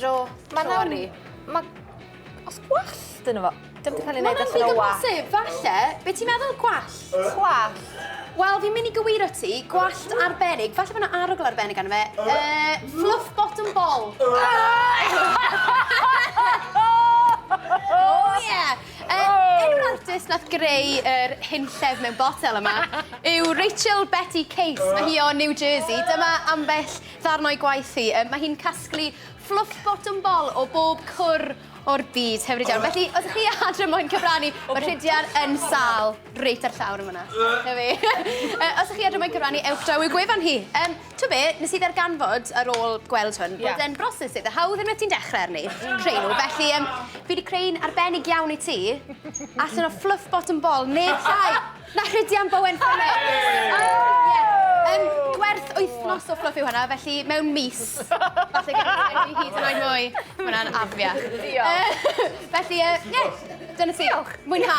Ro, mae'n awr i. Mae... Os gwallt yn efo... Dim wedi cael ei wneud allan o wa. Mae'n ddigon falle. Be ti'n meddwl gwallt? Gwallt. Wel, fi'n mynd i gywir o ti, gwallt arbennig, falle bod yna arogl arbennig arno fe. Uh, fluff bottom ball. oh, yeah! Uh, un o'r artist nath greu yr er hunllef mewn botel yma yw Rachel Betty Case. Mae hi o New Jersey. Dyma ambell Darn o'i gwaith hi. Mae hi'n casglu fluff bottom bol o bob cwr o'r byd. Hyfryd iawn. Felly, os ydych chi adre moyn cyfrannu, mae Rhidian yn sal reit ar llawr yn fyna. Na fi. os ydych chi adre moyn cyfrannu, ewch draw i'w gwefan hi. Um, to be, nes i ddarganfod ar ôl gweld hwn, yeah. bod e'n broses eitha hawdd unwaith ti'n dechrau arni, creu nhw. Felly, um, fi wedi creu'n arbennig iawn i ti, allan o fluff bottom ball, neb llai. Na, Rhydian Bowen Phillips! Yym, gwerth wythnos o fflwff yw hwnna, felly mewn mis, falle gawn ni enwi hyd yn oed mwy. Ma' hwnna'n afiach. Diolch. Yy, felly, yy, ie, dyna ti. Diolch. Mwynha.